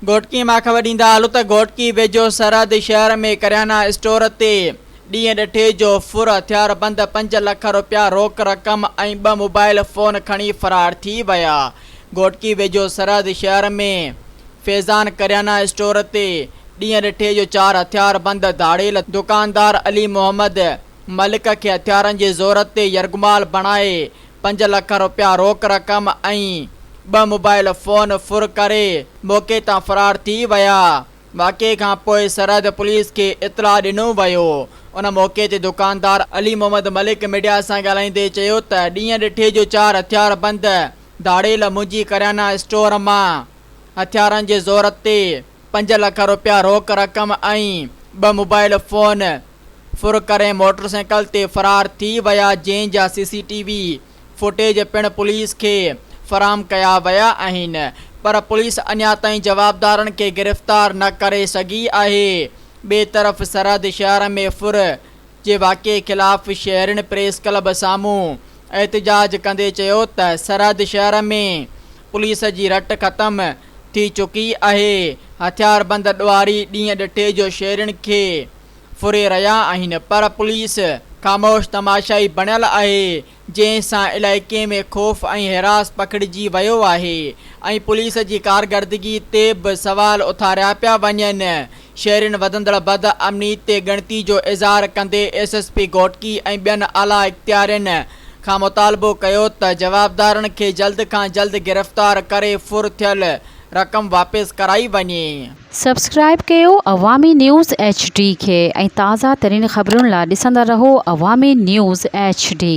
گهوٽڪي مان خبر ڏيندا هلو ته گهوٽڪي ويجهو سرحدي شهر ۾ ڪريانا اسٽور تي ڏينهن ڏٺي جو ڦر هٿياربند پنج لک روپيا روڪ رقم ۽ ٻه موبائيل فون کڻي فرار ٿي ويا. گهوٽڪي ويجهو سرحدي شهر ۾ فيضان ڪريانا اسٽور تي ڏينهن ڏٺي جو چار هٿياربند ڌاڙيل دڪاندار علي محمد ملڪ کي هٿيارن جي زور تي يرغمال بڻائي پنج لک رپيا روڪ رقم ۽ ٻه موبائيل فون ڦر ڪري موقعي تان فرار ٿي ويا، واقعي کان پوء سرحد پوليس کي اطلاع ڏنو ويو، ان موقعي تي دڪاندار علي محمد ملڪ ميڊيا سان ڳالهائيندي چيو ته ڏينهن ڏٺي جو چار هٿياربند ڌاڙيل منهنجي ڪريانا اسٽور مان هٿيارن جي زور تي پنج لک رپيا روڪ رقم ۽ ٻه موبائيل فون ڦر ڪري موٽرسائيڪل تي فرار ٿي ويا جنهن جا C C T V footage پڻ پوليس کي فراهم ڪيا ويا آهن پر پوليس اڃا تائين جوابدارن کي گرفتار نه ڪري سگهي آهي ٻئي طرف سرحد شهر ۾ ڦر جي واقعي خلاف شهرين پريس ڪلب سامهون احتجاج ڪندي چيو ته سرحد شهر ۾ پوليس جي رٽ ختم ٿي چڪي آهي هٿياربند ڏوهاري ڏينهن ڏٺي جو شهرين کي ڦري رهيا آهن پر پوليس خاموش تماشائي بڻيل آهي جنهن سان علائقي ۾ خوف ۽ حراس پکڙجي ويو آهي ۽ پوليس جي ڪارگردگي تي به سوال اٿاريا پيا وڃن شهرين وڌندڙ بد امني تي ڳڻتي جو اظهار ڪندي ايس ايس پي گهوٽڪي ۽ ٻين اعليٰ اختيارين کان مطالبو ڪيو ته جوابدارن کي جلد کان جلد گرفتار ڪري ڦر ٿيل رقم واپس ڪرائي وڃي. سبسڪرائيب ڪيو عوامي نيوز ايڇ ڊي کي ۽ تازه ترين خبرن لا ڏسندا رهو عوامي نيوز ايڇ ڊي.